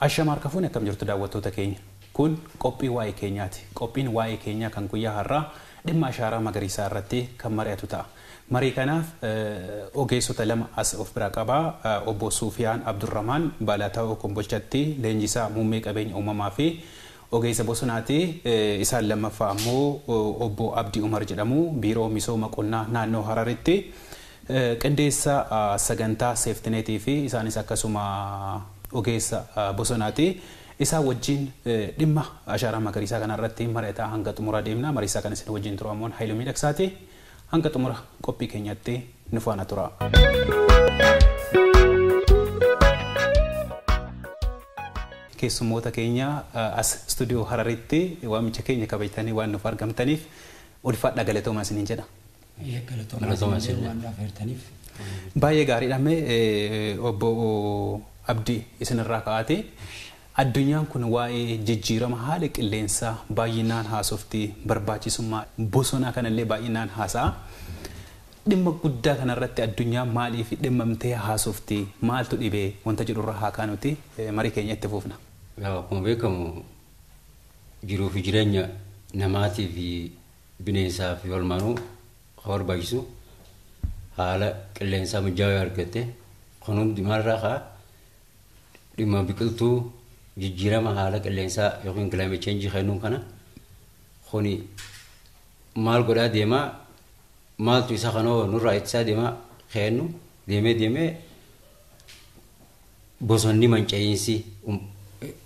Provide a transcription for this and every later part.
Ashama harka fuune akkam jirtu daawwattoota keenya. Kun qophii waa'ee keenyaati. Qophiin waa'ee keenyaa kan guyyaa har'aa dhimma ashaaraa magariisaa irratti kan mari'atu ta'a. Marii kanaaf ogeessota lama as of biraa qaba. Obbo Suufiyaan Abdurramaan Baalaataawoo Kombolchatti leenjisaa muummee qabeenya uumamaa fi ogeessa bosonaati. Isaan lammaffaa ammoo Obbo Abdii Umar jedhamu. Biiroo Misooma Qonnaa Naannoo Hararitti qindeessaa sagantaa seeftineetii fi isaanis akkasuma ogeessa bosonaati. Isaan wajjin dhimma ashaaraa magariisaa kanarratti mari'ataa hanga xumuraa deemna. Mariisaa kan isin wajjin turu ammoo Hayilu Miidhaksaati. Hanga xumura qophii keenyaatti nu faana turaa. Keessummoota keenya as studio Hararitti waamicha keenya kabajtanii waan nuuf argamtaniif ulfaadhaa galatoomaa isiniin jedha. Eeyyee galatoomaa Galatoomaa isin illee isinillee. waan nu affeertaniif. Baay'ee gaariidha mee obbo Abdii isinirraa ka'aatii. Addunyaan kun waa'ee jijjiirama haala qilleensaa baay'inaan haasofti, barbaachisummaa bosonaa kanallee baay'inaan haasa'a. Dhimma guddaa kanarratti addunyaan maaliif dhimmamtee haasofti, maaltu dhibe wanta jedhurraa haa kaanuti marii keenya itti fufna. Egaa akkuma beekamu jiruu fi jireenya namaatii fi bineensaa fi holmaanuu kan barbaachisu haala qilleensaa mijaawaa yoo argatte kun hundi maalirraa ka'a? dhimma biqiltuu jijjiirama haala qilleensaa yookiin climate change kennuun kana kuni maal godhaa deemaa maaltu isa kanoo nurraa ittisaa deemaa kennu deemee deemee bosonni manca'iinsi um-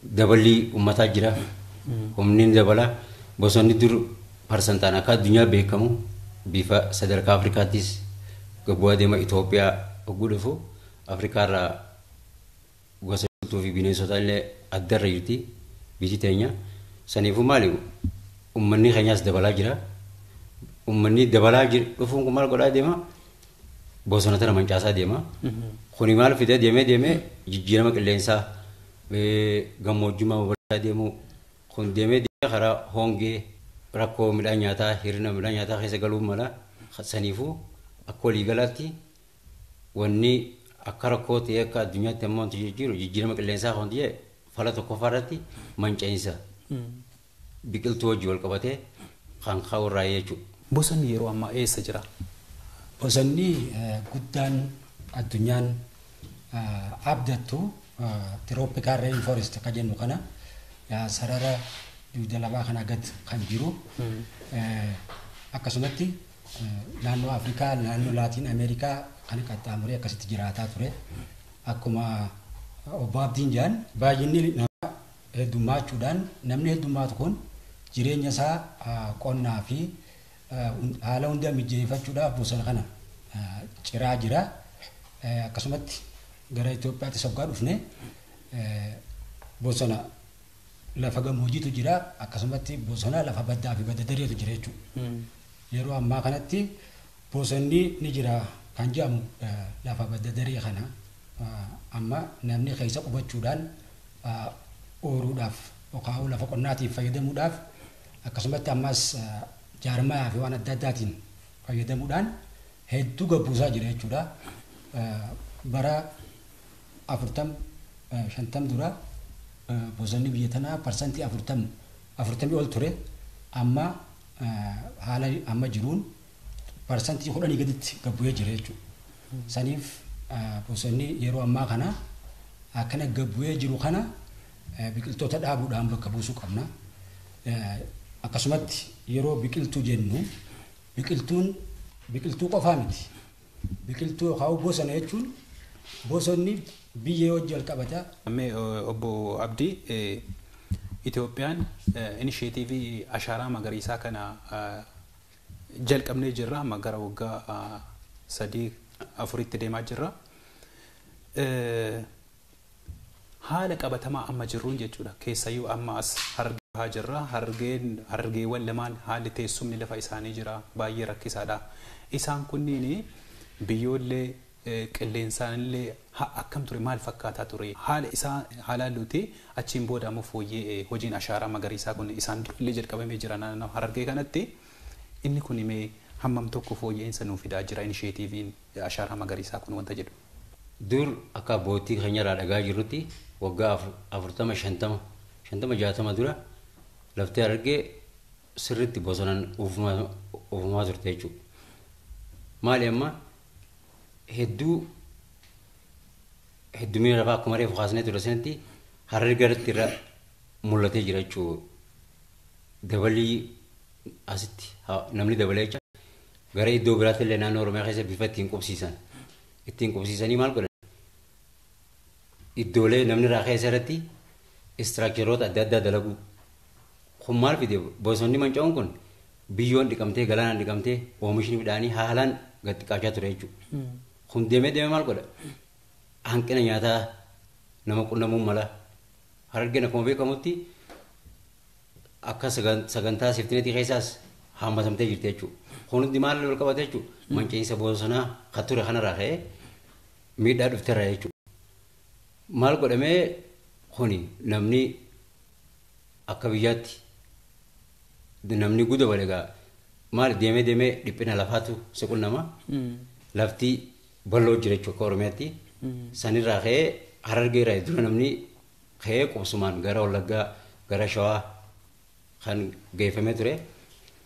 daballii ummataa jira humni ni dabala bosonni dur parsantaan akka addunyaa beekamu bifa sadarkaa afrikaattis gabbu'aa deema itoophiyaa hogguu dhufu Afrikaa irraa gosa jirtuu fi bineensota illee adda irra jirti biyyi teenya. Saniifuu maali uummanni keenyaas dabalaa jira. Uummanni dabalaa dhufuun kun maal godhaa deema? Bosona tana mancaasaa deema. Kuni maal fida deemee deemee jijjiirama qilleensaa gammoojjummaa babal'isaa deemuu kun deemee deemee karaa hongee rakkoo midhaan nyaataa hir'ina midhaan nyaataa keessa galuu mala saniifuu akka waliigalaatti Wanni akka rakkoo ta'ee akka addunyaatti amma wanti jijjiiru jijjiirama qilleensaa kan ta'e fala tokkoffaa irratti manca'iinsa biqiltuu wajjin wal qabatee kan ka'u irraa jechuudha. Bosonni yeroo ammaa eessa jira? Bosonni guddaan addunyaan abdattu tirooppikaal reen foorest akka jennu kana sarara dugda lafaa kanaa gad kan jiru akkasumatti Naannoo Afrikaa, naannoo Laatiin Ameerikaa kana qaxxaamuree akkasitti jiraataa ture. Akkuma obbo Abdiin jedhan baay'inni namaa heddummaachuudhaan namni heddummaatu kun jireenya isaa qonnaa fi haala hunda mijeeffachuudhaaf bosona kana ciraa jira. Akkasumatti gara Itoophiyaatti soggaa dhufne bosona lafa gamoojiitu jira akkasumatti bosona lafa baddaa fi badda dareetu jira jechuudha. Yeroo ammaa kanatti bosonni ni jira kan jedhamu lafa badda daree kana amma namni keessa qubachuudhaan ooruudhaaf yookaan lafa qonnaatiin fayyadamuudhaaf akkasumatti ammas jaarmayaa fi waan adda addaatiin fayyadamuudhaan hedduu gabbuusaa jira jechuudha. Bara afurtam, shantam dura bosonni biyya tanaa parsantii afurtam, afurtamii ol ture. Amma haala amma jiruun parsantii kudhanii gaditti gad bu'ee jira jechuudha. Saniif bosonni yeroo ammaa kana akkana gad bu'ee jiru kana biqiltoota dhaabuudhaan bakka buusuu qabna. Akkasumatti yeroo biqiltuu jennu biqiltuun biqiltuu qofaa miti. Biqiltuu yookaan bosona jechuun bosonni biyyee wajji wal qabata. Mee obbo Abdii, Itoophiyaan inisheetiivii ashaaraa magariisaa kana jalqabnee jirra. Amma gara waggaa sadii afuritti deemaa jirra. Haala qabatamaa amma jirruun jechuudha. Keessayyuu amma as Harargee Bahaa jirra. Harargeen, Harargeewwan lamaan haalli teessumni lafa isaanii jira baay'ee rakkisaadha. Isaan kunniin biyyoollee qilleensaanillee ha akkam ture maal fakkaataa ture haala isaa haa laalluuti achiin booda ammoo fooyyee hojiin ashaaraa magariisaa kun isaan durallee jalqabamee jira naannoo Harargee kanatti inni kun mee hammam tokko fooyya'insa nuu fidaa jira inisheetiiviin Ashaaraa Magariisaa kun wanta jedhu. Dur akka abboottii keenyarraa dhagahaa jirrutti waggaa 40, 50, 50, 60 dura lafti Harargee sirriitti bosonaan uwwifamaa turte jechuudha. Maali amma hedduu heddumina lafaa akkuma reefu kaasnee ture sanatti Harargee irratti irra mul'atee jira jechuudha. Dabalii asitti namni dabalee jecha Gara iddoo biraatti illee naannoo Oromiyaa keessa bifa ittiin qubsiisan. Ittiin qubsiisanii maal godhan? Iddoolee namni irraa keessa irratti istiraakcharoota adda addaa dalaguu. Kun maal fide bosonni manca'uun kun biyyoon dhiqamtee galaanaan dhiqamtee oomishni midhaanii haalaan gad xiqqaachaa ture jechuudha. Kun deemee deemee maal godha? Hanqina nyaataa nama qunnamuun mala. Harargeen akkuma beekamutti akka sagantaa seeftineetii keessaas haammatamtee jirti jechuudha. Kun hundi maal wal qabate jechuudha? Manca'iinsa bosonaa kan ture kanarraa ka'ee miidhaa dhufterra jechuudha. Maal godhamee kuni namni akka biyyaatti namni guddaa wal egaa maal deemee deemee dhiphina lafaatu si qunnama. Lafti bal'oo jira jechuudha akka Oromiyaatti. Sanirraa ka'ee harargee irraa dura namni ka'ee qubsumaan gara Wallaggaa, gara Shawaa kan geeffamee ture.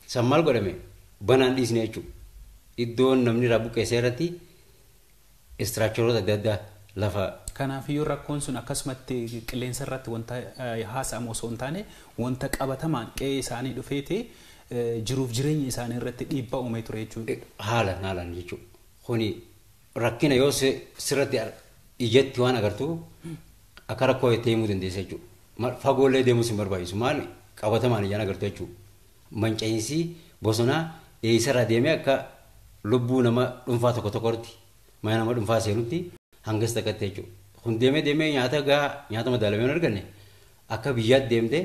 San maal godhame? Banaan dhiisne jechuudha. Iddoon namni irraa buqqeessee irratti istiraakcharoota adda addaa lafa Kanaafiyyuu rakkoon sun akkasumatti qilleensa irratti wanta haasa'amu osoo hin taane wanta qabatamaan qe'ee isaanii dhufeeti jiruuf jireenya isaanii irratti dhiibbaa uumee ture jechuudha. haalan haalan jechuudha. Kuni Rakkina yoo sirratti ijatti waan agartu akka rakkoo jettee himuu dandeessa jechuudha. Fagoollee deemuus hin barbaachisu. Maal qabatamaan ijaan agartu jechuudha. Manca'iinsi bosonaa eessarraa deemee akka lubbuu nama dhuunfaa tokko tokkotti mana nama dhuunfaa seenutti hangas takkatti jechuudha. Kun deemee deemee nyaata gahaa nyaata madaalamee hin arganne akka biyyaatti deemtee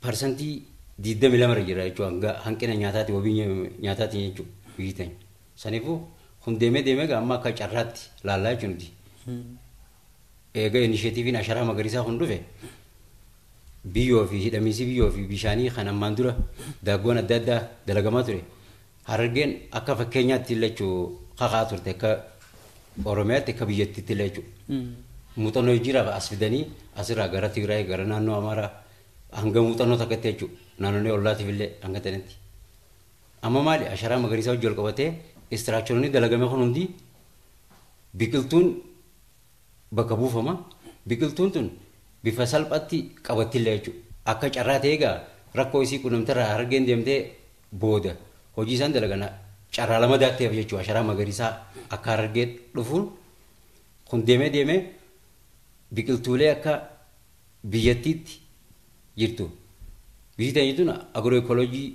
parsantii 22 irra jira jechuudha hanga hanqina nyaataati wabii nya- nyaataatiin jechuudha biyyi teenya. Saniifuu kun deemee deemee egaa amma akka carraatti laallaa jechuun nuti. Eega inisheetiiviin asharaa magariisaa kun dhufe biyyoo fi hidhamiinsi biyyoo fi bishaanii kan ammaan dura daaggoon adda addaa dalagamaa ture Harargeen akka fakkeenyaatti illee jechuu kakaa turte akka Oromiyaatti akka biyyattiitti illee jechuu muuxannoo jijjiiraaf as fidanii asirraa gara Tigraay gara naannoo Amaaraa hanga muuxannoo takkatti jechuu naannolee ollaatiif illee hanga ta'anitti. Amma maali asharaa magariisaa wajjin wal qabatee istiraakcharoonni dalagame kun hundi biqiltuun bakka buufama. Biqiltuun tun bifa salphatti qabattilla jechu. Akka carraa ta'ee egaa rakkoo isii qunnamterraa Harargeen deemtee booda hojii isaan dalagan carraa lamadaatti hafe jechu. Asharaa magariisaa akka Harargee dhufuun kun deemee deemee biqiltuulee akka biyyattiitti jirtu. Biyyi teenya tun agro ekolojii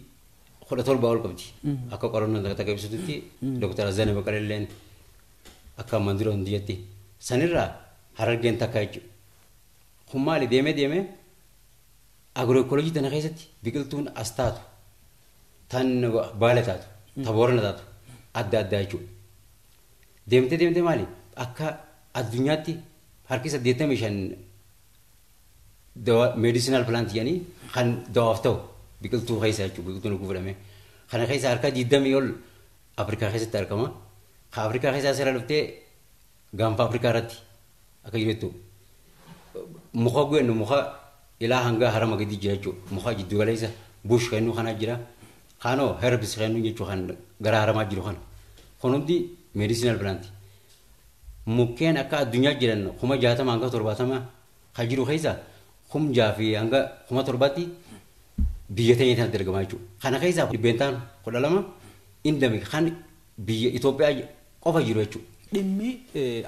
kudha torbaa ol qabdi. Akka qorannoon takka takka ibsitutti Dr. Azzane Baqalelleen Akka armaan dura hundi jette sanirraa Harargeen takka jechuudha. Kun maali deemee deemee agirooekooloojii tana keessatti biqiltuun as taatu tan baale taatu ta boorana taatu adda addaa jechuudha. Deemtee deemtee maali akka addunyaatti harki saddeettamii shan meediisinaal pilaanti jedhanii kan dawaaf ta'u biqiltuu keessa jechuudha biqiltuun oguu fudhamee. Kana keessa harka digdamii ol Afrikaa keessatti argama. Ka Afrikaa keessaa seera dhuftee gaanfa Afrikaa irratti akka jiru jettu muka gwennu muka ilaa hangaa harama gadi jira jechuudha. Muka jiddu galeessa bush kennuu kanaa jira. Kaanoo herbs kennuu jechuu kan gara haramaa jiru kana. Kun hundi medicinal plant. Mukkeen akka addunyaa jiran kuma jaatama hanga torbaatama kan jiru keessa kum jaha fi hanga kuma torbaatti biyya teenya tanatti argamaa jechuudha. Kana keessaa dhibbeentaan kudha lama indami kan biyya Itoophiyaa qofa jiru jechuudha. Dhimmi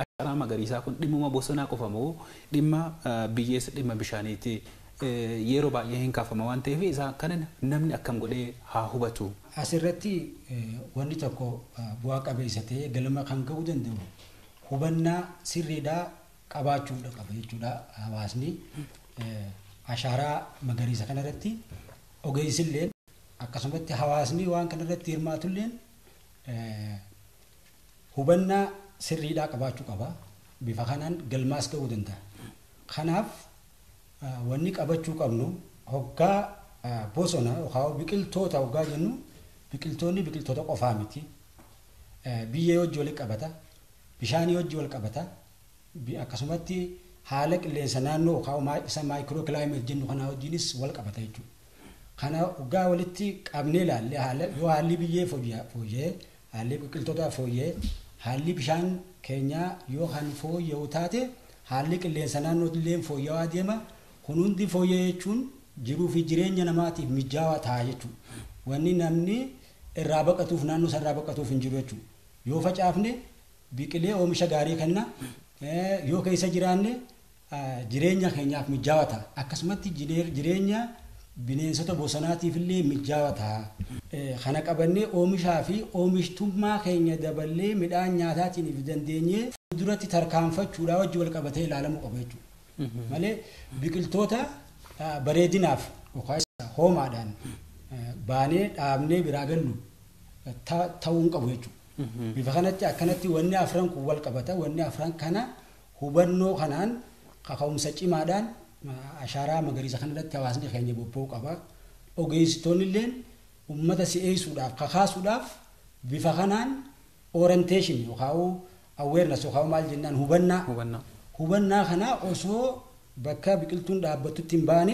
ashaaraa magariisaa kun dhimmuma bosonaa qofa moo dhimma biyyeessa dhimma bishaaniiti yeroo baay'ee hin kaafama waan ta'eef isaa kana namni akkam godhee haa hubatu. Asirratti wanni tokko bu'aa qabeessa ta'ee galma kan ga'uu danda'u hubannaa sirriidhaa qabaachuu dha qaba jechuu dha hawaasni. Ashaaraa magariisa kana irratti ogeessi illeen akkasumatti hawaasni waan kana irratti hirmaatu illeen hubannaa sirriidhaa qabaachuu qaba. Bifa kanaan galmaas ga'uu danda'a. Kanaaf wanni qabachuu qabnu hoggaa bosona yookaan biqiltoota hoggaa jennu biqiltoonni biqiltoota qofaa miti. biyyee wajji wali qabata, bishaanii wajji wal qabata, bi- akkasumatti haala qilleensa naannoo yookaan maa- isa maayikiroo kilaayimeet jennu kanaa wajjinis wal qabata jechuudha. Kana hoggaa walitti qabnee ilaalle haala yoo haalli biyyee fooyya- fooyya'e, haalli biqiltootaa fooyya'e, haalli bishaan keenyaa yoo kan fooyya'u taate haalli qilleensa naannoo illee fooyya'aa deema, Kun hundi fooyya'e jechuun jiruu fi jireenya namaatiif mijaawaa ta'a jechuudha. Wanni namni irraa baqatuuf naannoo isaa irraa baqatuuf hin jiru jechuudha. Yoo facaafne biqilee oomisha gaarii kenna, yoo keessa jiraanne jireenya keenyaaf mijaawaa ta'a. Akkasumatti jireenya bineensota bosonaatiif illee mijaawaa ta'a. Kana qabannee oomishaa fi oomishtummaa keenya daballee midhaan nyaataatiin if dandeenyee fuulduratti tarkaanfachuudhaa wajji wal qabatee ilaalamuu qaba jechuudha. malee biqiltoota bareedinaaf yookaas hoomaadhaan baanee dhaabnee biraa gallu ta'uu hin qabu jechuudha. Bifa kanatti akkanatti wanni afran kun wal qabata. Wanni afran kana hubannoo kanaan kaka'umsa cimaadhaan ashaaraa magariisa kanarratti hawaasni keenya bobba'uu qaba. Ogeessitoonni illeen uummata si'eessuudhaaf kakaasuudhaaf bifa kanaan orientation yookaan awareness yookaan maal jennaan hubannaa Hubannaa. hubannaa kanaa osoo bakka biqiltuun dhaabbattutti hin baane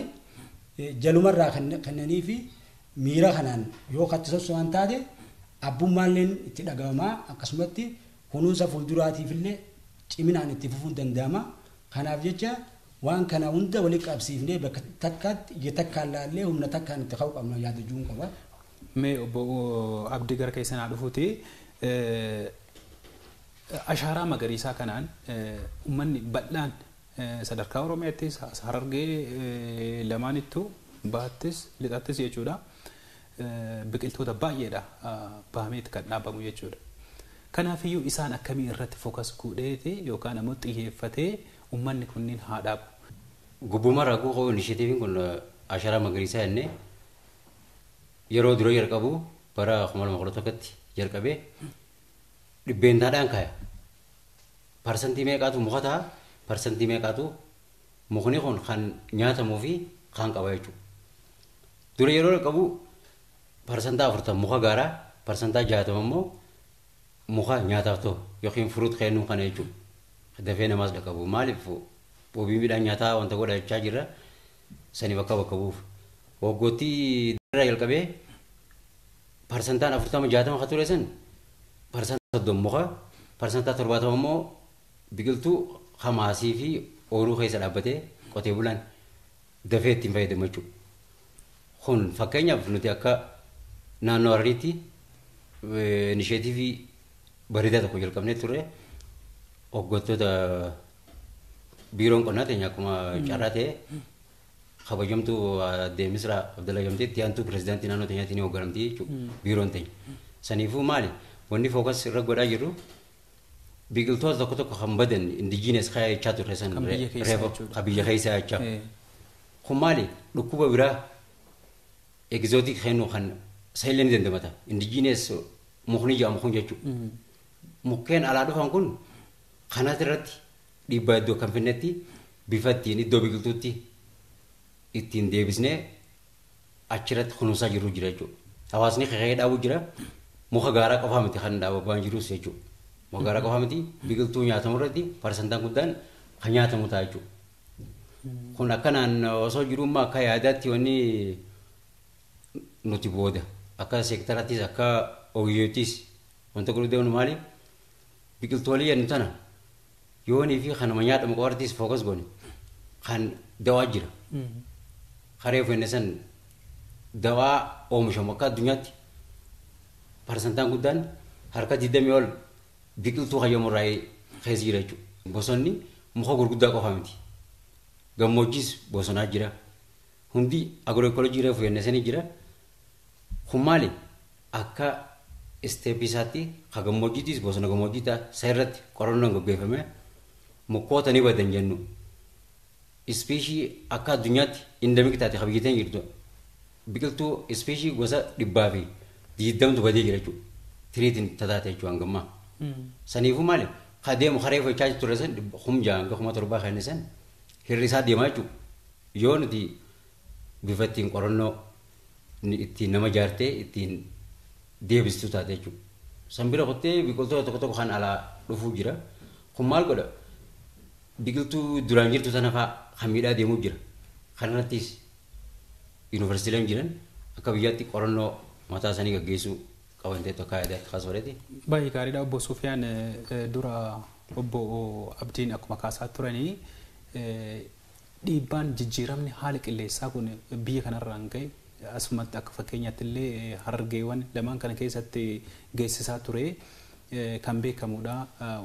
eh, jalumarraa kenne- kennanii fi miira kanaan yoo katti sosso'an taate abbummaalleen itti dhaga'amaa akkasumatti kunuunsa fuulduraatiifillee ciminaan itti fufuun danda'ama kanaaf jecha waan kana hunda walitti qabsiifnee bakka takkaatti ija takkaan laallee humna takkaan itti ka'uu qabna yaada jiruun qaba. Mee obbo Abdi gara keessan haa dhufuti. Ashaaraa magariisaa kanaan ummanni bal'aan sadarkaa Oromiyaattis, as Harargee lamaanittu bahattis, lixattis jechuudha biqiltoota baay'eedha bahameeti kan dhaabamu jechuudha. Kanaafiyyuu isaan akkamii irratti focus godheeti yookaan ammoo xiyyeeffatee ummanni kunniin haa dhaabu? Gubbuma irraa akkuma ka'u initiative kun asharaa magariisaa jennee, Yeroo dura jalqabu bara 2011tti jalqabee dhibbeentaadhaan kaya. Parsantii meeqaatu muka ta'a, parsantii meeqaatu mukni kun kan nyaatamuu fi kan qaba jechuudha. Dura yeroo jalqabu parsantaa 40 muka gaaraa, parsantaa 60 immoo muka nyaataaf ta'u yookiin furuut kennuu kana jechuudha. Dafee namaas dhaqqabu. Maaliif wabii midhaan nyaataa wanta godhachaa jirra. saniif akka bakka bu'uuf. Waggoottii darbeerraa jalqabee parsantaan 40-60 ka ture san parsantaa 30 muka, parsantaa 70 immoo biqiltuu ka maasii fi ooluu keessa dhaabbatee qotee bulaan dafee ittiin fayyadamu jechuudha. Kun fakkeenyaaf nuti akka naannoo Harariitti inisheetiivii bareedaa tokko jalqabnee turre waggoottoota Biiroon qonnaa teenya akkuma carraa ta'e kabajamtuu addee Misraa Abdallaa Gamtee itti aantuu pirezidaantii naannoo teenyaatiin ni hoogganamti jechuudha biiroon teenya. Saniifuu maali wanni fookas irra godhaa jirru biqiltoota tokko tokko kan badan indijiinees kaayaa jechaa turre san Kan biyya keessaa reefa jechuudha. kan biyya keessaa jechaa. Eh, Kun maali dhukkuba biraa egzootik kennu kan saayillee ni dandamata indijiinees mukni jedhamu kun jechuudha. mm, Mukkeen alaa dhufan kun Kanas irratti dhiibbaa iddoo kan finnetti bifa ittiin iddoo biqiltuutti ittiin deebisnee achirratti kunuunsaa jirru jira jechuudha. Hawaasni kaka'ee dhaabu jira. Muka gaaraa qofaa miti kan dhaababaan jirus jechuudha. Muka gaaraa qofaa miti biqiltuu nyaatamu irratti parsantaan guddaan kan nyaatamu ta'a jechuudha. Kun akkanaan osoo jiruu immoo akka yaadaatti wanni nuti booda akka seektarattis akka ogeeyyoottis wanta gurguddaan maali? biqiltoolii jennu tana yoonii fi kanuma nyaatamu qofarrattis fookas goone kan dawaa jira. Kareef inni san dawaa oomishamu akka addunyaatti parsantaan guddaan harka 20 ol biqiltuu hayyamu irraa keessa jira jechuudha. Bosonni muka gurguddaa qofa miti. Gammoojjis bosonaa jira. Hundi agirooekoolojii reefu jenne sanii jira. Kun maali? Akka step isaatti ka gammoojjiitiis bosona gammoojjii ta'a. Isa irratti qorannoon gaggeeffamee mukkoota ni badan jennu. Ispeeshii akka addunyaatti endemic taate ka biyya teenya jirtu biqiltuu ispeeshii gosa dhibbaa fi diiddamtu badee jira jechuudha. Tiriitiin tataate jechuudha hangammaa. Saniifuu maali? Ka deemu ka reefu jechaa turre san kum ja'a hanga kuma torbaa kenne san hir'isaa deemaa jechuudha. Yoo nuti bifa ittiin qorannoo ittiin nama jaartee ittiin deebistu taate jechuudha. San bira kuttee biqiltoota tokko tokko kan alaa dhufuu jira. Kun maal godha? Biqiltuu duraan jirtu sana fa'aa kan miidhaa deemuu jira. Kanarrattis yuunivarsiitiileen jiran akka biyyaatti qorannoo mataa isaanii gaggeessuu qaban ta'etu akka yaadaatti kaasuu fedheeti. Baay'ee gaariidha obbo Sufiyaan dura obbo Abdiin akkuma kaasaa turanii Dhiibbaan jijjiiramni haala qilleensaa kun biyya kanarraan ga'e asumatti akka fakkeenyaattillee Harargeewan lamaan kana keessatti geessisaa ture kan beekamuudha.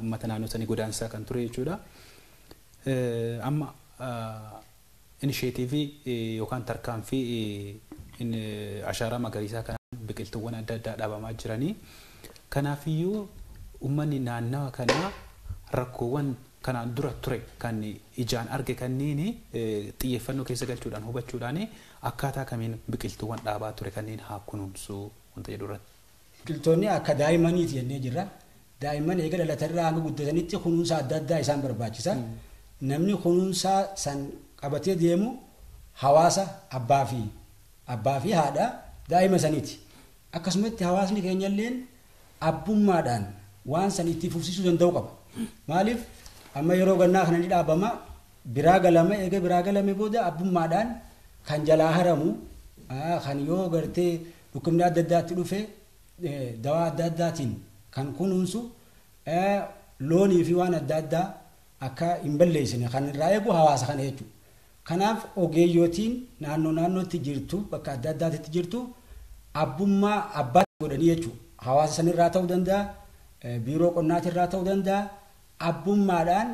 Ummata naannoo sanii godaansisaa kan ture jechuudha. Amma inisheetiivii yookaan tarkaanfii ashaaraa magariisaa kanaan biqiltuuwwan adda addaa dhaabamaa jiranii. Kanaafiyyuu ummanni naannawa kanaa rakkoowwan kanaan dura ture kan ijaan arge kanniini xiyyeeffannoo keessa galchuudhaan hubachuudhaan akkaataa kamiin biqiltuuwwan dhaabaa ture kanniin haa kunuunsu wanta jedhu irratti. Biqiltoonni akka daa'immaniiti jennee jirra. Daa'imman eega dhalatan irraa hanga guddatanitti kunuunsa adda addaa isaan barbaachisa. Namni kunuunsa san qabatee deemu hawaasa abbaa fi abbaa fi haadha daa'ima saniiti. Akkasumatti hawaasni keenyalleen abbummaadhaan waan san itti fufsiisuu danda'uu qaba. Maaliif amma yeroo gannaa kana ni dhaabama, biraa galama, eega biraa galame booda abbummaadhaan kan jalaa haramu, kan yoo gartee dhukkubni adda addaa itti dhufe dawaa adda addaatiin kan kunuunsu, loonii fi waan adda addaa akka hin balleessine kan irraa eegu hawaasa kana jechuudha. Kanaaf ogeeyyotiin naannoo naannootti jirtu, bakka adda addaatitti jirtu abbummaa abbaa godhanii jechuu hawaasa sanirraa ta'uu danda'a, biiroo qonnaatirraa ta'uu danda'a abbummaadhaan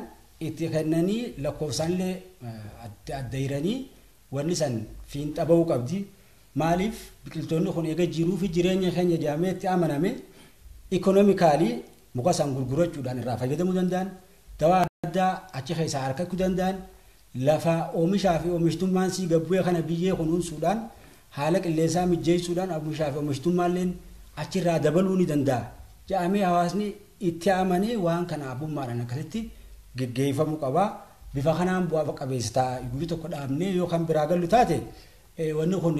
itti kennanii lakkoofsaanillee adda adda hiranii wanni san fiinxa ba'uu qabdi. Maaliif biqiltoonni kun eega jiruufi jireenya keenya jedhamee itti amaname economically muka san gurgurachuudhaan irraa fayyadamuu danda'an, dawaa adda addaa achi keessaa arkachu danda'an, Lafa omishaa fi omishtummaan sii gad bu'e kana biyyee kunuunsuudhaan, haala qilleensaa mijjeessuudhaan omishaa fi omishtummaalleen achirraa dabaluu ni danda'a jedhamee hawaasni itti amanee waan kana abbummaadhaan akkasitti geggeeffamuu qaba. Bifa kanaan bu'aa qabeessa ta'a. Guyya tokko dhaabnee yoo kan biraa gallu taate wanni kun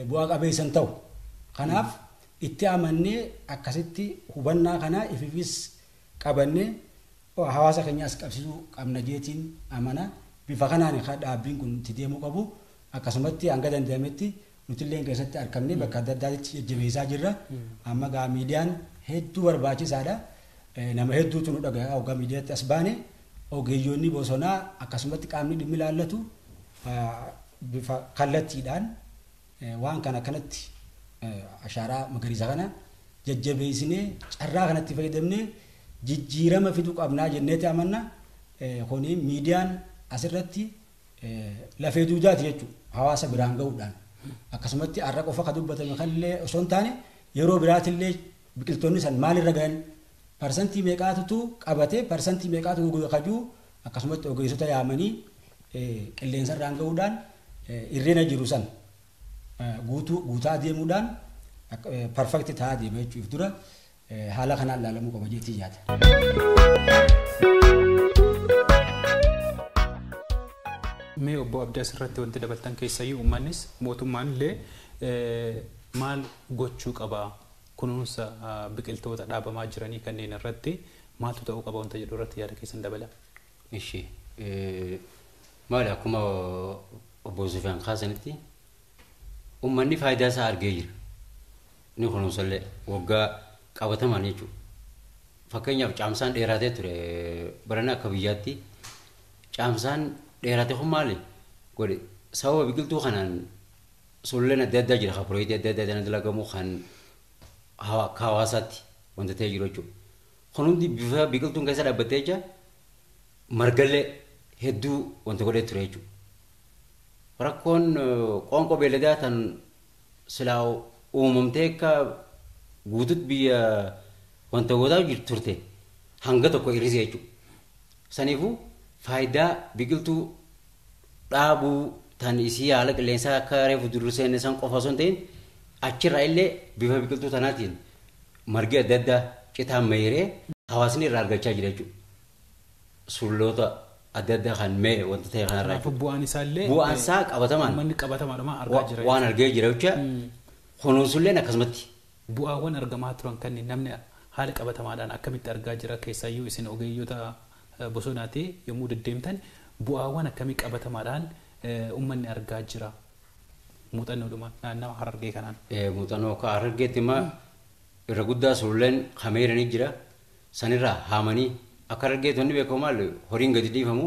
bu'aa qabeessa hin ta'u. Kanaaf itti amannee akkasitti hubannaa kana ififis qabanne hawaasa keenya as qabsiisuu qabna jeetiin amana. Bifa kanaani ka dhaabbiin kun itti deemuu qabu. Akkasumatti hanga danda'ametti nutilleen keessatti arkamnee bakka adda addaatitti jajjabeessaa jirra. Amma gaa miidiyaan hedduu barbaachisaadha. Nama hedduutu nu dhagaya hoggaa miidiyaatti as baane. Ogeeyyoonni bosonaa akkasumatti qaamni dhimmi ilaallatu bifa kallattiidhaan Waan kana akkanatti ashaaraa magariisa kana jajjabeessinee carraa kanatti fayyadamnee jijjiirama fiduu qabnaa jenneeti amanna. Kuni miidiyaan asirratti lafee duudaati jechuudha. Hawaasa biraan ga'uudhaan. Akkasumatti har'a qofa kan dubbatame kanillee osoo hin taane yeroo biraatillee biqiltoonni san maalirra gahan parsantii meeqaatutu qabate parsantii meeqaatu goge kajuu akkasumatti ogeessota yaamanii qilleensarraan ga'uudhaan irrina jiru san guutuu guutaa deemuudhaan perfect ta'aa deema jechuuf dura haala kanaan ilaalamuu qaba jeetii yaada. Mee obbo Abdii asirratti wanti dabaltan keessayyuu uummannis mootummaan illee maal gochuu qabaa? kunuunsa biqiltoota dhaabamaa jiranii kanneen irratti maaltu ta'uu qaba wanta jedhu irratti yaada keessan dabalaa. Ishi, maali akkuma obbo Sufiyaan kaasanitti ummanni faayidaa isaa argee jira. Ni kunuunsallee waggaa qabatamaan jechuudha. Fakkeenyaaf caamsaan dheeraatee ture barana akka biyyaatti caamsaan dheeraate kun maali godhe sababa biqiltuu kanaan Sululleen adda addaa jira kan piroojeektii adda addaa dana dalagamu kan hawa- akka hawaasaatti wanta ta'ee jiru jechuudha. Kun hundi bifa biqiltuun keessa dhaabbattee jecha margallee hedduu wanta godhee ture jechuudha. Rakkoon eh, qoonqoo beelladaa tan silaa uumamtee akka guututti biyya wanta gootaa jirtu turte hanga tokko hir'ise jechuudha. Saniifuu faayidaa biqiltuu dhaabuu tan isii haala qilleensaa akka reefu durseenne san qofa osoo hin ta'in achirraa illee bifa biqiltuu tanaatiin margi adda addaa citaan meeyree hawaasni irraa argachaa jira jechuudha. Sulloota adda addaa kan meeyre wanta ta'e kanarraa Kanaafuu jechuudha. bu'aan isaa illee Bu'aan isaa qabatamaan uummanni qabatamaadhuma argaa jira. waan argee jira jecha kunuunsulleen akkasumatti. Bu'aawwan argamaa turan kanniin namni haala qabatamaadhaan akkamitti argaa jira? Keessaayyuu isin ogeeyyota bosonaati yommuu deddeemtan bu'aawwan akkamii qabatamaadhaan ummanni argaa jira? Muuxannoodhuma naannawa Harargee kanaan. Muuxannoo akka Harargeetti amma irra guddaa sululleen hameera ni jira. Sanirraa haamanii akka Harargeetti wanni beekamu maali? Horiin gadi dhiifamu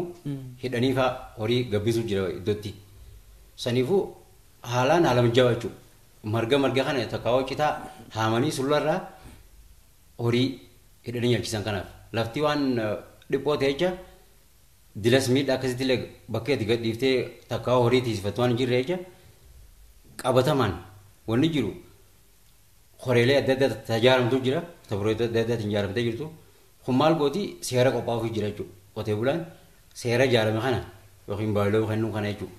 hidhanii faa horii gabbisuu jira iddootti. Saniifuu haalaan haala mijaawaa jechuudha. Marga marga kana tokko citaa haamanii sullarraa horii hidhanii nyaachisan kanaaf lafti waan dhiphoo ta'e jecha dilas miidhaa akkasitti illee bakka itti gadhiiftee takkaa horii tiisifattu waan hin jirre jecha qabatamaan wanni jiru horeelee adda addaa tajaajilamtu jira tabroo adda addaatiin ijaaramtee jirtu kun maal gooti seera qophaa'uuf jira jechuudha qotee bulaan seera ijaarame kana yookiin baay'iloo kennuu kana jechuudha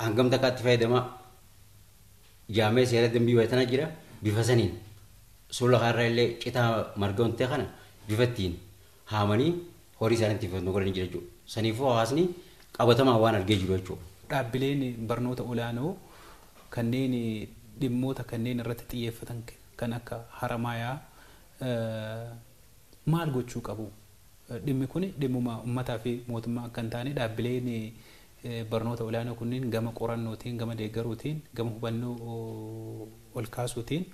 hangam takkaatti fayyadamaa jaamee seera dambii wayitana jira bifa saniin suula kanarra illee citaa marga ontee kana bifa ittiin haamanii horii isaanii ittiin fayyadamu godhanii jira jechuudha. Saniifuu hawaasni qabatamaan waan argee jiru jechuudha. Dhaabbileen barnoota olaanoo kanneen dhimmoota kanneen irratti xiyyeeffatan kan akka Haramaayaa maal gochuu qabu? Dhimmi kun dhimmuma ummataa fi mootummaa akka hin taane dhaabbileen barnoota olaanoo kunniin gama qorannootiin, gama deeggaruutiin, gama hubannoo olkaasuutiin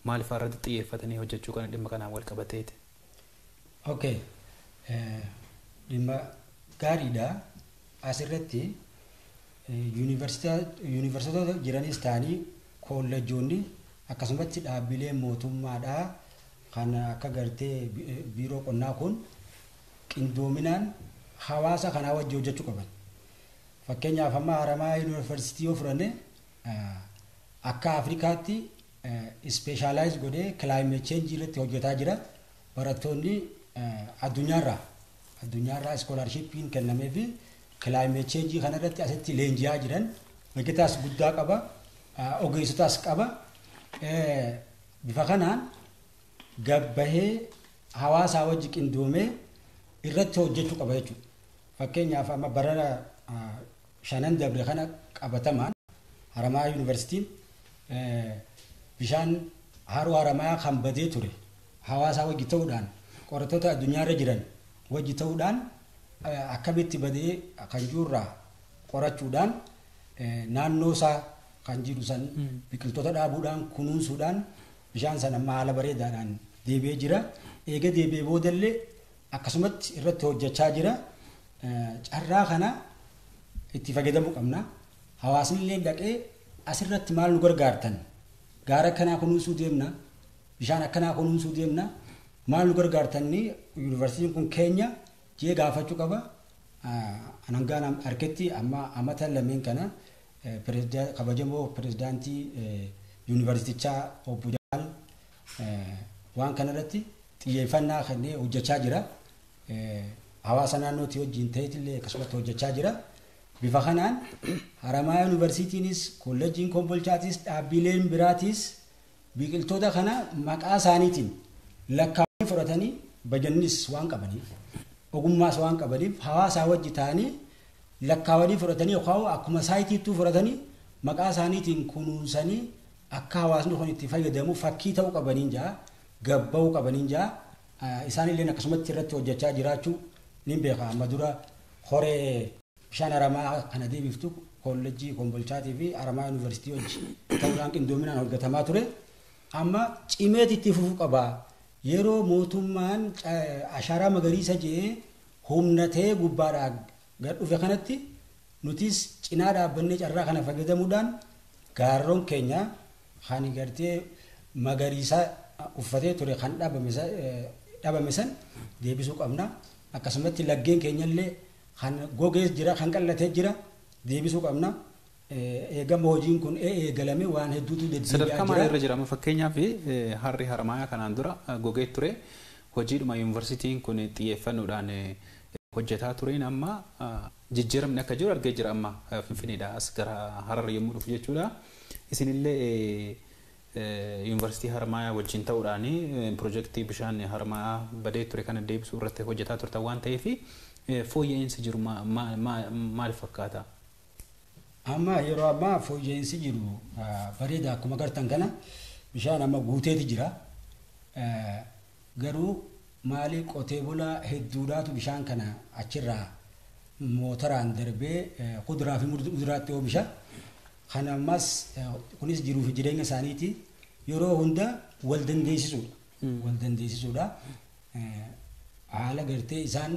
maal faa irratti xiyyeeffatanii hojjechuu kana dhimma kanaan wal qabateeti. Ok. Dhimma gaariidha. Asirratti yuunivarsiitota jiranis ta'anii koolleejjoonni akkasumatti dhaabbileen mootummaadhaa kan akka gartee biiroo qonnaa kun qindoominaan hawaasa kanaa wajji hojjachu qaban. Fakkeenyaaf amma Haramaya University yoo fudhanne akka Afrikaatti ispeeshaalaayis godhee climate change irratti hojjetaa jira. Barattoonni addunyaarraa addunyaarraa iskoolaarshiippiin kennamee fi climate change kanarratti asitti leenji'aa jiran beektaas guddaa qaba. Ogeessotaas qaba. Bifa kanaan gad bahee hawaasaa wajji qindoomee irratti hojjechuu qaba jechuudha. Fakkeenyaaf amma barana shanan dabre kana qabatamaan Haramaayaa Yuunivarsiitiin bishaan haroo Haramaayaa kan badee ture hawaasaa wajji ta'uudhaan qorattoota addunyaarra jiran wajji ta'uudhaan akkamitti badee kan jirurraa qorachuudhaan naannoo isaa kan jiru san biqiltoota dhaabuudhaan kunuunsuudhaan Bishaan sana amma haala bareedaadhaan deebi'ee jira. Eega deebi'ee boodallee akkasumatti irratti hojjechaa jira. Carraa kana itti fayyadamuu qabna. Hawaasnillee dhaqee asirratti maal nu gargaartan? Gaara akkanaa kunuunsuu deemna. Bishaan akkanaa kunuunsuu deemna. Maal nu gargaartan yuunivarsiitiin kun keenya jee gaafachuu qaba. Hangaan harketti amma amata lameen kana Kabajamoo Pirezidaantii Yuunivarsiitichaa Obbo Jamaal waan kanarratti xiyyeeffannaa kennee hojjechaa jira. Hawaasa naannootii wajjin ta'eetillee akkasumatti hojjechaa jira. Bifa kanaan Haramaayaa Yuunivarsiitiinis, Koolleejjiin Kombolchaatis, dhaabbileen biraatis biqiltoota kana maqaa isaaniitiin lakkaa'anii fudhatanii bajannis waan qabaniif, ogummaas waan qabaniif hawaasaa wajji ta'anii lakkaawanii fudhatanii yookaan akkuma saayitiittuu fudhatanii maqaa isaaniitiin kunuunsanii akka hawaasni kun itti fayyadamu fakkii ta'uu qabaniin ja'a gab ba'uu qabaniin ja'a isaanilleen akkasumatti irratti hojjechaa jiraachuu nin beeka amma dura horee bishaan aramaa kana deebiftu koollejjii kombolchaatii fi aramaa yuunivarsiitii hojji ta'uudhaan qindoominaan hojjetamaa ture amma cimeet itti fufuu qaba yeroo mootummaan ashaaraa magariisa je'ee humna ta'ee gubbaadhaa gad dhufe kanatti nutis cinaa dhaabbannee carraa kana fayyadamuudhaan gaarroon keenya kan gartee magariisaa uffatee ture kan dhabame san deebisuu qabna. Akkasumatti laggeen keenyallee kan gogees jira kan qal'atee jira deebisuu qabna. Eegama hojiin kun eegalame waan hedduutu deddeebi'aa jira. Sadarkaa maalii irra jira amma fakkeenyaaf harri Haramaayaa kanaan dura gogee ture hojiidhuma yuunivarsiitiin kun xiyyeeffannoodhaan hojjetaa tureen amma jijjiiramni akka jiru argee jira amma Finfinneedhaa as gara Harar yommuu dhufu jechuudha. Isinillee yuunivarsiitii Haramaayaa wajjin ta'uudhaan pirojektii bishaan Haramaayaa badee ture kana deebisuu irratti hojjetaa turtan waan ta'eef fooyya'iinsi jiru maal fakkaata? Amma yeroo ammaa fooyya'insi jiru bareeda akkuma agartan kana bishaan amma guuteeti jira. Garuu maalii qotee bulaa hedduudhaatu bishaan kana achirraa mootaraan darbee kuduraa fi muduraatti oomisha. Kana ammas kunis jiruu fi jireenya isaaniiti yeroo hunda wal dandeessisuudha. Wal dandeessisuudha. Haala gartee isaan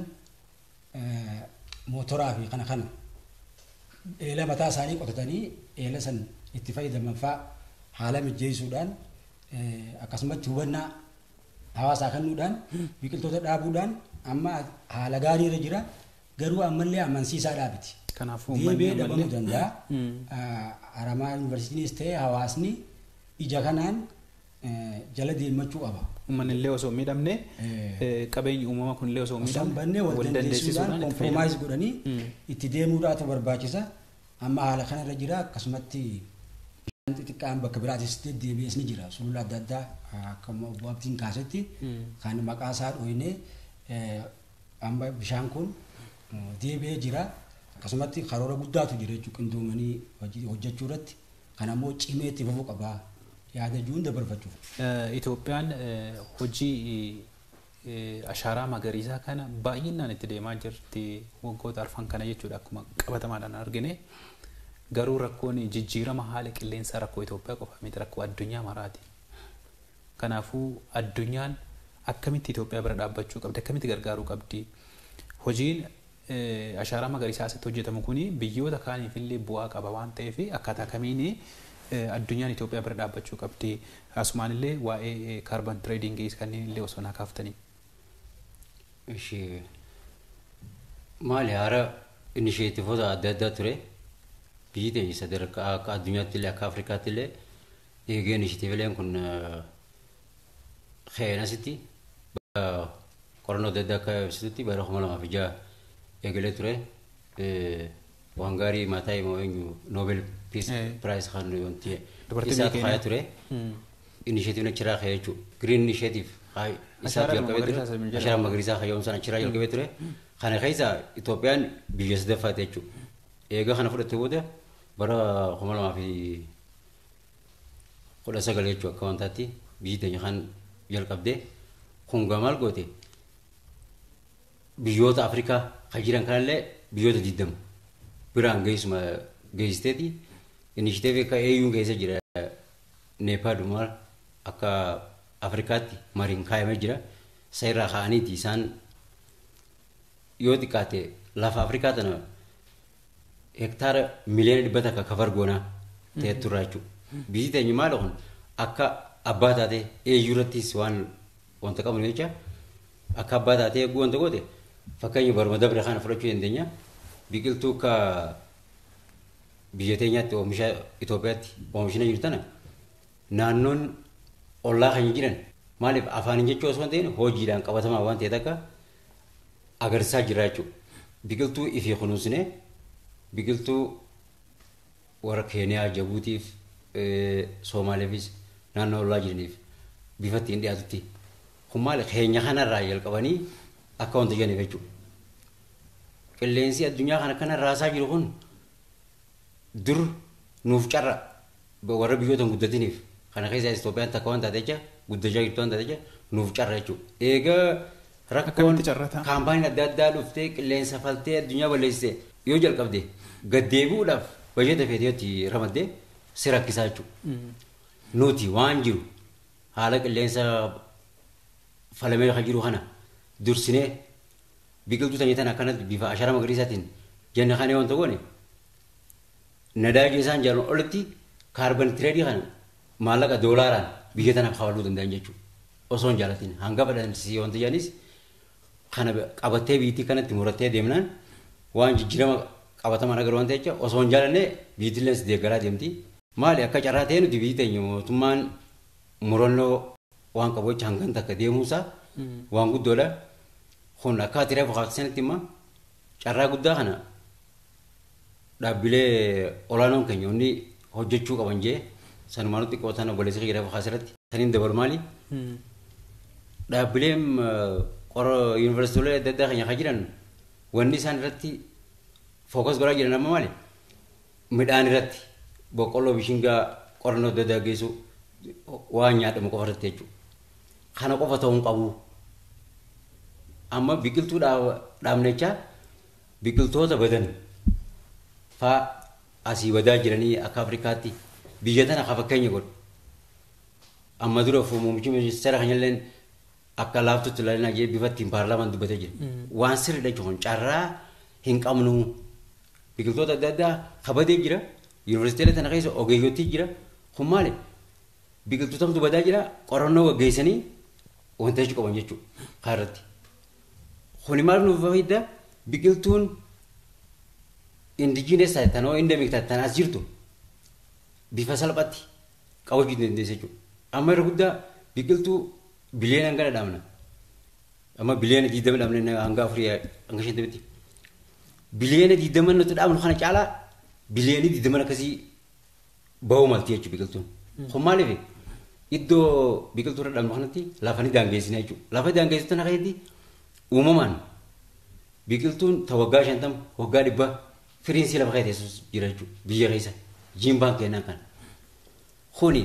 mootoraa fi kana kana eela mataa isaanii qotatanii eela san itti fayyadaman faa haala mijjeessuudhaan akkasumatti hubannaa hawaasaa kennuudhaan biqiltoota dhaabuudhaan amma haala gaarii irra jira garuu ammallee amansiisaa dhaabiti. Kanaaf uummanni Deebi'ee ammallee- dhabamuu danda'a. Aramaa yuunivarsiitiinis ta'e hawaasni ija kanaan jala deemmachuu qaba. Ummanillee osoo hin miidhamne, qabeenyi uumama kunillee osoo hin Osoo hin miidhamne badne wal wal dandeessisuudhaan dandeessisuudhaan itti fayyadamu. compromise godhanii itti deemuudhaatu barbaachisa. Amma haala kanarra jira akkasumatti bishaan xixiqqaan bakka biraatis deddeebi'es ni jira. Sulula adda addaa ah, akkuma obbo Abdiin kaasetti kan maqaa isaa dhooynee eh, amma bishaan kun eh, deebi'ee jira. Akkasumatti karoora guddaatu jira jechuudha qindoomanii hojii- hojjechuu irratti Kana immoo cimee itti fufuu qaba yaada jiruun dabarfachuuf. Itoophiyaan hojii ashaaraa magariisaa kana baay'inaan itti deemaa jirti waggoota arfan kana jechuudha akkuma qabatamaadhaan argine. Garuu rakkoon jijjiirama haala qilleensaa rakkoo Itoophiyaa qofa miti rakkoo addunyaa maraati. Kanaafuu addunyaan akkamitti Itoophiyaa bira dhaabbachuu qabdi akkamitti gargaaruu qabdi hojiin Ashaaraa magariisaa asitti hojjetamu kun biyyoota kaaniif illee bu'aa qaba waan ta'eef akkaataa kamiin addunyaan Itoophiyaa bira dhaabbachuu qabdi? Asumaan illee waa'ee carbon trading kanneen illee osoo naa kaaftanii. Ishi maali haara inisheetifoota adda addaa ture biyyi teenya sadarkaa akka addunyaatti illee akka Afrikaatti illee eegee inisheetiivileen kun keenasitti qorannoo adda addaa akka ibsitutti bara kuma lamaa fi ja'a eegalee ture waan gaarii maataa himoo eenyu noobel piis piraayis kan wanti isaa tuqaaya ture inisheetiivin achiraa ka'ee jechuudha giriin inisheetiif isaa jalqabee ture ashaara magariisaa kayyoomsaan achiraa jalqabee ture kana keessa Itoophiyaan biyya sadaffaati jechuudha eegaa kana fudhattee booda bara kuma lamaa fi kudha sagal jechuun akka wantaatti biyyi teenya kan jalqabde kun gaa maal goote biyyoota Afrikaa kan jiran kanallee biyyoota digdama biraan geessuma geessisteeti inishiteefi akka AU'n keessa jira Neepaad maal akka Afrikaatti mariin kaayamee jira isa irraa ka'aniiti isaan Yoo xiqqaate lafa Afrikaa tana hektaara miliyoona dhibba takka kafar goonaa ta'e turraa jechuudha. Biyyi teenya maali kun akka abbaa taatee eeyyuu irrattis waan wanta qabnu jecha akka abbaa taatee eeguu wanta goote fakkeenya baruma dabre kana fudhachuu dandeenya. Biqiltuu akka biyya teenyaatti oomisha Itoophiyaatti oomishina jiru tana naannoon ollaa keenya jiran maaliif afaaniin jechuu osoo hin ta'in hojiidhaan qabatamaa waan ta'e takka agarsisaa jirra jechuudha. Biqiltuu ifii kunuunsine biqiltuu warra Keeniyaa, Jabuutiif, Soomaaleefis naannoo ollaa jiraniif bifa ittiin dhiyaatutti. Kun maali keenya kanarraa jalqabanii akka wanta jedhaniif jechuudha. Qilleensi addunyaa kana akkana raasaa jiru kun Dur nuuf carra warra biyyoota hin guddatiniif kana keessaa Itoophiyaan takka waan taate jecha guddachaa jirtu waan taate jecha nuuf carra jechuudha. Eega rakkoon Akkamitti carra ta'a? kaampaaniin adda addaa dhuftee qilleensa faltee addunyaa balleessite yoo jalqabde gad deebi'uudhaaf bajata feete yoo itti ramadde si rakkisaa jechuudha. Nuti waan jiru haala qilleensa falamee kan jiru kana dursinee biqiltuu sanyii tana akkanatti bifa ashara magariisaatiin janna kanee wanta goone nadaajii isaan jaalan olitti kaarban tireedii kana maallaqa doolaaraan biyya tanaaf hawaluu danda'an jechuudha. Osoo hin jaalatin hanga fedhansiisee wanta jedhanis kana qabattee biyyattii kanatti murattee deemnaan waan jijjiirama qabatamaan agaruu wanta jecha osoo hin jaalanne biyyattiillee deeggaraa deemti. Maali akka carraa ta'e nuti biyyi teenya mootummaan murannoo waan qabu jecha hangan takka deemuunsaa waan guddoodha. Kun akka ati reefu kaasanitti immoo carraa guddaa kana dhaabbilee olaanoon keenya hundi hojjechuu qaban jee sanumaan nutti qootan obboleessi kiyya reefu kaasirratti. Saniin dabalu maali? Dhaabbileen qora yuunivarsiitiilee adda addaa keenya kan jiran wanni isaan irratti fookas godhaa jiran amma maali? midhaan irratti boqqolloo bishingaa qorannoo adda addaa geessu waan nyaadhamu qofa irratti jechuudha. Kana qofa ta'uu hin qabu. Amma biqiltuu dhaabnechaa biqiltoota badan faa asii badaa jiranii akka Afrikaatti biyya tana kan fakkeenya godhu. Amma dura muummichi ministeera keenyallee akka laaftutti ilaalinaa jee bifa ittiin paarlaamaan dubbatee jira. Waan sirriidha jechuun carraa hin qabnu. Biqiltoota adda addaa ka badee jira. Yunivarsiiteelee tana keessa ogeeyyotii jira. Kun maali? Biqiltuutamtu badaa jira. Qorannoo gaggeessanii wanta jechuu qaban jechuudha. Kaa irratti. Kuni maal nuuf fayda? Biqiltuun indijiinees taate tanoo indemik taate tan as jirtu bifa salphatti qabachuu dandeessa jechuudha. Amma irra guddaa biqiltuu biliyoona hangana dhaabna. Amma biliyoona digdama dhaabna hanga afurii hanga shantamitti. biliyoona 20 nuti dhaabnu kana caalaa biliyoonni 20 akkasii bahuu malti jechuudha biqiltuun. Kun maaliif iddoo biqiltuu irra dhaabnu kanatti lafa ni daangeessina jechuudha. Lafa daangeessu tana keessatti uumamaan biqiltuun ta waggaa 50 waggaa 100 firiin si lafa keessa teessus jira jechuudha biyya keessa jiimbaan kennaan kana. Kuni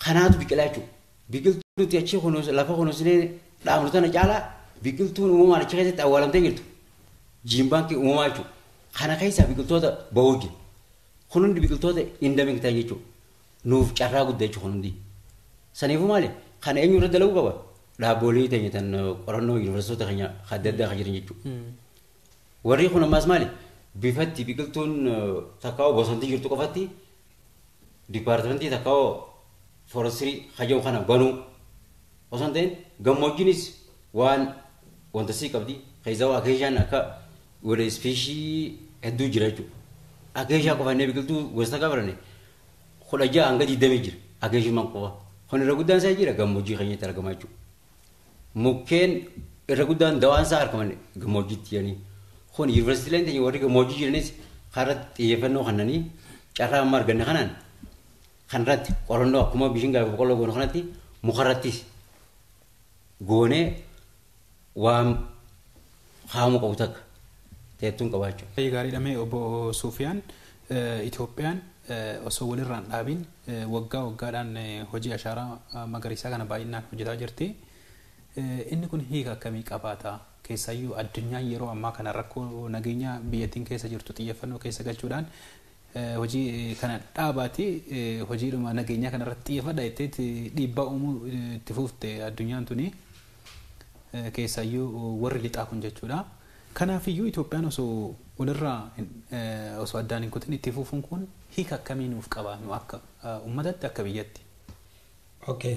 kanaatu biqilaa jechuudha. Biqiltuu nuti achi kunuunsa lafa kunuunsinee dhaabnu tana caalaa biqiltuun uumamaan achi keessatti awwaalamtee jirtu jiin baankii uumamaa jechuudha. Kana keessaa biqiltoota ba'uu jiru. Kun hundi biqiltoota indamik ta'an jechuudha. Nuuf carraa guddaa jechuudha kun hundi. Saniifuu maali? Kana eenyu irra dalaguu qaba? Dhaabboolii teenya tan qorannoo yuunivarsiitota keenya adda addaa kan jiran jechuudha. Warri kun ammaas maali? Bifatti biqiltuun takkaa bosontii jirtu qofatti dipaartimentii takka hoo foorestirii haja'u kana banuu osoo hin ta'in gammoojjiinis waan wanta sii qabdi keessaa akeeshaan akka wala ispeeshii hedduu jira jechuudha. Akeeshaa qofa inni biqiltuu gosa takka barane kudha ja'a hanga digdamii jira akeeshummaan qofa. Kun irra guddaan isaa jira gammoojjii keenyatti argama jechuudha. Mukkeen irra guddaan dawaan isaa argaman gammoojjiitti jiranii. Kun yuunivarsiitiileen teenya warri gammoojjii jiranis kanarratti xiyyeeffannoo kennanii carraa amma arganne kanaan kanarratti qorannoo akkuma bishingaa fi boqqolloo goonu kanatti mukarrattis goonee waan kaa'amuu qabu takka teettuun qabaachuu. Baay'ee gaariidha mee obbo Suufiyaan Itoophiyaan osoo walirraa hin dhaabiin waggaa waggaadhaan hojii ashaaraa magariisaa kana baay'inaan hojjetaa jirti. Inni kun hiika akkamii qabaata? Keessaayyuu addunyaan yeroo ammaa kana rakkoo nageenyaa biyyattiin keessa jirtu xiyyeeffannoo keessa galchuudhaan hojii kana dhaabaati hojiidhuma nageenyaa kana irratti xiyyeeffadha jetteetti dhiibbaa uumuu itti fuufte addunyaan tuni keessaayyuu warri lixaa kun jechuudha. Kanaafiyyuu Itoophiyaan osoo walirraa osoo addaan hin kutin itti fuufuun kun hiika akkamii nuuf qaba nu akka ummatatti akka biyyatti? Okay.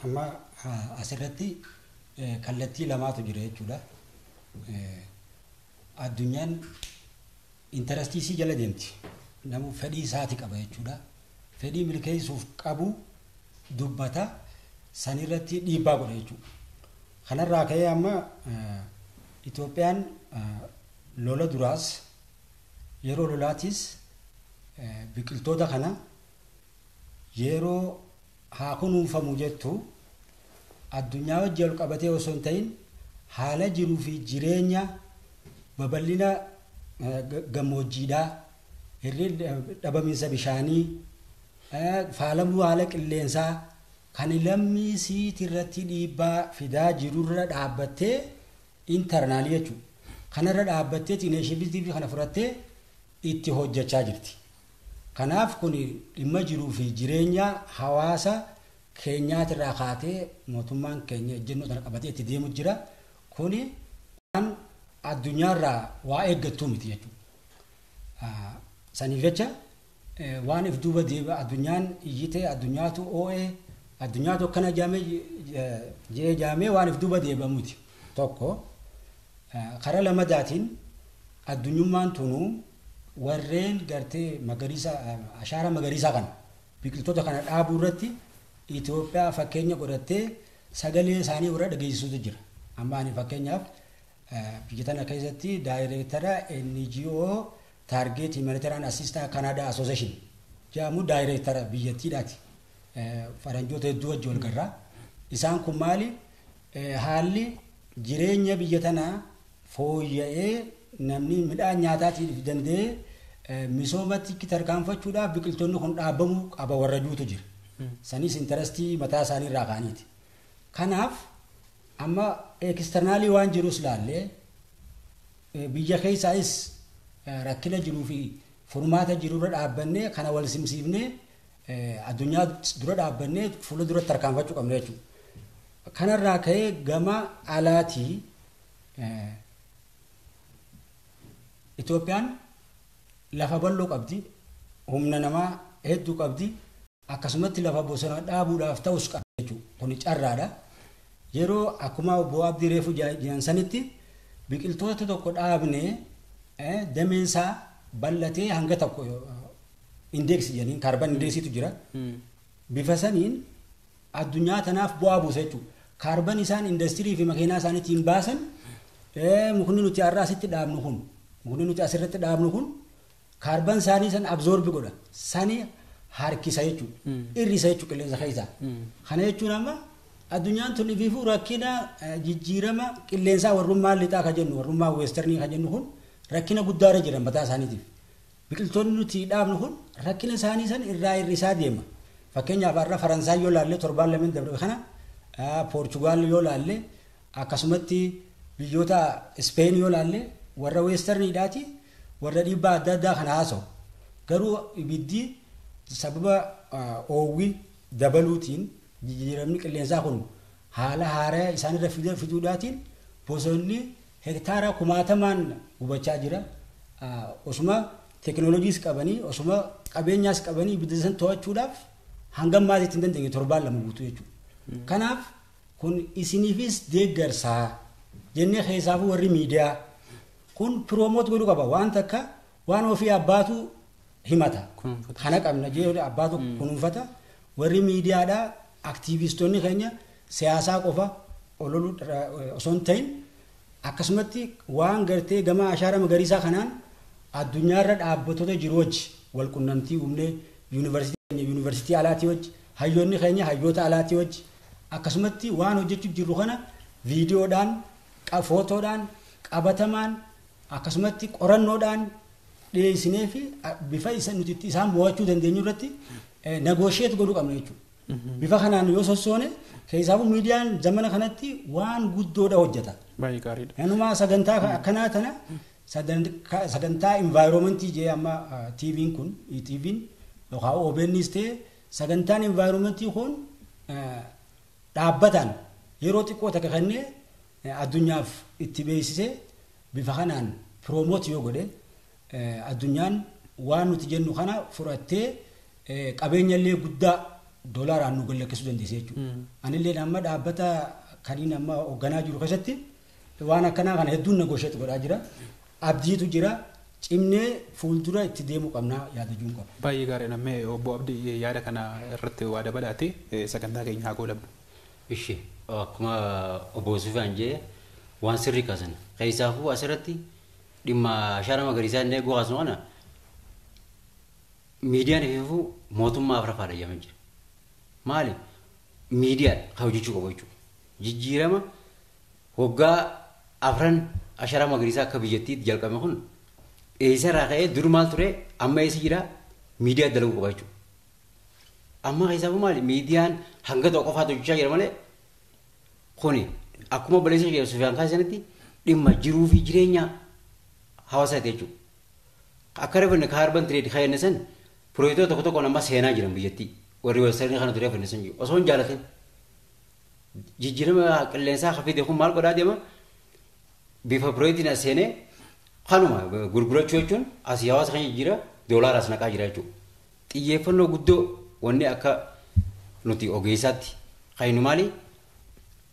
Amma asirratti kallattii lamaatu jira jechuudha. Addunyaan Interastii isii jala deemti. Namuu fedhii isaati qaba jechuudha. Fedhii milkeessuuf qabu dubbata. San irratti dhiibbaa godha jechuudha. Kanarraa ka'ee amma Itoophiyaan lola duraas yeroo lolaatiis biqiltoota kana yeroo haa kunuunfamu jettu. Addunyaa wajji walqabatee osoo hin ta'in haala jiruu fi jireenya babal'ina gammoojjiidhaa, dhabaminsa bishaanii, faalamuu haala qilleensaa kan lammii isiit irratti dhiibbaa fidaa jiru irra dhaabbattee, internal jechuudha, kana irra dhaabbatteet initiative kana fudhattee itti hojjachaa jirti. Kanaaf kun dhimma jiruu fi jireenya hawaasa keenyaatirraa kaatee mootummaan keenya ejjennoo tana qabatee itti deemu jira. Kun waan addunyaarraa waa eeggattuu miti jechuudha. Saniif jecha waan if duuba deebi'a addunyaan iyyitee addunyaatu oo'ee addunyaatu akkana jaamee jee jaamee waan if duuba deebi'a miti. Tokko kara lamadaatiin addunyummaan tunuu Warreen gartee magariisa ashaaraa magariisaa kana biqiltoota kana dhaabuu irratti Itoophiyaa fakkeenya godhattee sagalee isaanii warra dhageessisutu jira. Amma ani fakkeenyaaf biyya tana keessatti daayireektara NGO Target Humanitarian Assistance Canada Association jedhamu daayireektara biyyattiidhaati. Faranjoota hedduu wajji wal garraa. Isaan kun maali? Haalli jireenya biyya tanaa fooyya'ee namni midhaan nyaataatiif danda'ee misoomatti tarkaanfachuudhaaf biqiltoonni kun dhaabamuu qaba warra juutu jira. Sanis intarastii mataa isaanii irraa kaaniiti. Kanaaf amma ekisternaalii waan jirus laallee biyya keessaayis rakkina jiruu fi furmaata jirurra dhaabbannee kana wal simsiifnee addunyaa dura dhaabbannee fuula duratti tarkaanfachuu qabna jechuudha. Kanarraa ka'ee gama alaatii Itoophiyaan lafa bal'oo qabdi, humna namaa hedduu qabdi, akkasumatti lafa bosona dhaabuudhaaf ta'us qabdi jechuudha. Kuni carraadha. Yeroo akkuma obbo Abdii Reefu jedhan sanitti biqiltoota tokko dhaabnee dameen isaa bal'atee hanga tokko indeeksi jedhaniin kaarban indeeksiitu jira. Bifa saniin addunyaa tanaaf bu'aa buusa jechuudha. Kaarban isaan indastirii fi makiinaa isaaniitiin baasan mukni nuti har'a asitti dhaabnu kun mukni nuti asirratti dhaabnu kun kaarban isaanii san abzoorbi godha. Sani harkisa jechuudha. Irrisa jechuudha qilleensa keessaa. Kana jechuun amma addunyaan tun ifiifuu rakkina jijjiirama qilleensaa warrummaa lixaa kan jennu warrummaa weestarnii kan jennu kun rakkina guddaarra jiran mataa isaaniitiif. Biqiltoonni nuti dhaabnu kun rakkina isaanii san irraa hir'isaa deema. Fakkeenyaaf har'a Faransaay yoo laalle torbaan lameen dabre kana Poorchugaal yoo laalle akkasumatti biyyoota Ispeen yoo laalle warra weestarniidhaati warra dhiibbaa adda addaa kana haasa'u. Garuu ibiddi sababa oowwi dabaluutiin jijjiiramni qilleensaa kun haala haaraya isaanirra fiduudhaatiin bosonni Hektaaraa kumaatamaan gubachaa jira. Osuma teknolojiis qabanii, osuma qabeenyaas qabanii ibidda san to'achuudhaaf hanga ammaatti itti hin dandeenye torbaan lama guutuu jechuudha. Kanaaf kun isiniifis deeggarsaa jennee keessaafuu warri miidiyaa kun piroomoot godhuu qaba. Waan takka waan ofii abbaatu himata. Kana qabna jedhee abbaatu kunuunfata. Warri miidiyaadhaa Aktiiviistoonni keenya siyaasaa qofa ololuu osoo hin ta'in akkasumatti waan gartee gama ashaara magariisaa kanaan addunyaarra dhaabbattoota jiru wajji wal qunnamtii uumnee yuunivarsiitii keenya yuunivarsiitii alaatii wajji hayyoonni keenya hayyoota alaatii wajji akkasumatti waan hojjechuu jirru kana viidiyoodhaan footoodhaan qabatamaan akkasumatti qorannoodhaan dhiyeessinee fi bifa isa nuti itti isaan mo'achuu dandeenyu irratti nagoosheet godhuu qabna jechuudha. Bifa kanaan yoo sossoone keessaafuu miidiyaan zamana kanatti waan guddoodha hojjeta. Baay'ee gaariidha. Nanumaa sagantaa akkanaa tana sagantaa environmentii jee amma TV'n kun TV'n yookaan OBN's ta'e sagantaan environmentii kun dhaabbataan yeroo xiqqoo takka kennee addunyaaf itti beeksisee bifa kanaan promote yoo godhe addunyaan waan nuti jennu kana fudhattee qabeenya illee guddaa doolaaraan nu gallakkisuu dandeesse jechuudha. Anillee amma dhaabbata kaniin amma hoogganaa jiru keessatti waan akkanaa kana hedduun negoosheetti godhaa jira. Abdiitu jira. Cimnee fuuldura itti deemuu qabnaa yaadajuun qaba. Baay'ee gaariidha. Mee obbo Abdii yaada kana irratti waa dabalaati sagantaa keenya haa goolabnu. Ishi akkuma obbo Sufiyaan jedhe waan sirrii kaasan. Keessaafuu asirratti dhimma ashaaraa magariisaa inni eeguu kaasnu kana miidiyaan ififuu mootummaa afrafaadha jedhamaa jira. Maali? Miidiyaan kan hojjechuu qabu jechuudha. Jijjiirama waggaa afran ashaaraa magariisaa akka biyyattiitti jalqabame kun eessarraa ka'ee dur maal ture amma eessa jira miidiyaa dalaguu qaba jechuudha. Amma keessaa maali miidiyaan hanga tokko qofaatu hojjechaa jira malee kuni akkuma obboleessa kee Sufiyaan kaasee sanatti dhimma jiruu fi jireenya hawaasaati jechuudha. Akka refanne ka harban tireed ka jenne san piroojektota tokko tokkoon amma seenaa jiran biyyattii warri weessarni kana ture refanne san jiru osoo hin jaalatin. Jijjiirama qilleensaa ka fide kun maal godhaa deema bifa piroojeektiin as seenee kanuma gurgurachuu jechuun asii hawaasa kan jijjiira doolaaraas naqaa jira jechuudha. Xiyyeeffannoo guddoo wanni akka nuti ogeessaatti kaynu maali?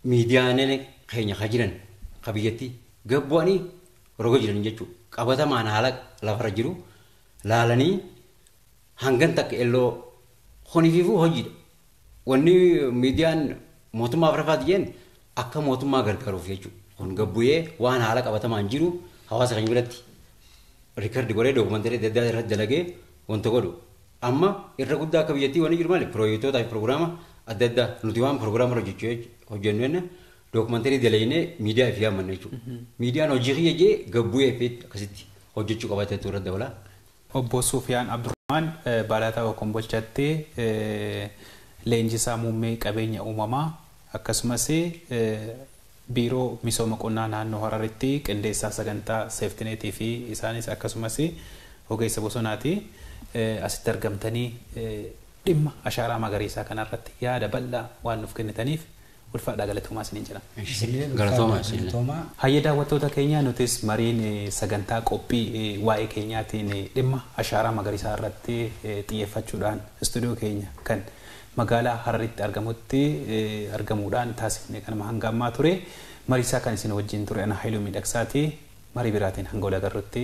Miidiyaaleen keenya ka jiran ka biyyatti gad bu'anii roga jiran jechuu qabatamaan haala lafarra jiru laalanii hangan takka elloo kunifiifuu hojiidha. Wanni miidiyaan mootummaa Afraffaa diyyeen akka mootummaa gargaaruuf jechuudha. Kun gabbuyee waan haala qabatamaan jiru hawaasa keenya biratti rikardi godhee dookumantarii adda addaa irratti dalagee wanta godhu. Amma irra guddaa akka biyyattii wanni jiru maali? Piroojektootaa fi piroogiraama adda addaa nuti waan piroogiraama irra hojjechuu- hojjennu jenna dookumantarii dalagnee miidiyaa fi yaammanna jechuudha. Miidiyaan hojii kiyya jee gabbuyee fi akkasitti hojjechuu qabateetu irra dabalaa. Obbo Suufiyaan Abdurahmaan Baalataawoo Kombolchatti Leenjisaa Muummee Qabeenya Uumamaa akkasumas Biiroo Misooma Qonnaa Naannoo Hararitti Qindeessaa Sagantaa Seeftineetii fi isaanis akkasumas Ogeessa Bosonaati. Asitti argamtanii dhimma Ashaaraa Magariisaa kanarratti yaada bal'aa waan nuuf kennitaniif Ulfaadhaa galatoomaa isiniin jedha. Isinilleen Galatoomaa ulfaadhaa isinillee. galatoomaa. Hayyee daawwattoota keenya nutis mariin eh, sagantaa qophii eh, waa'ee keenyaatiin eh, dhimma ashaaraa magariisaa irratti eh, xiyyeeffachuudhaan istuudiyoo keenya kan magaalaa Hararitti argamutti eh, argamuudhaan taasifne kanuma hanga ammaa ture. Mariisaa kan isin wajjin ture ana Haayiluu Miidhagsaati. Marii biraatiin hanga wal agarrutti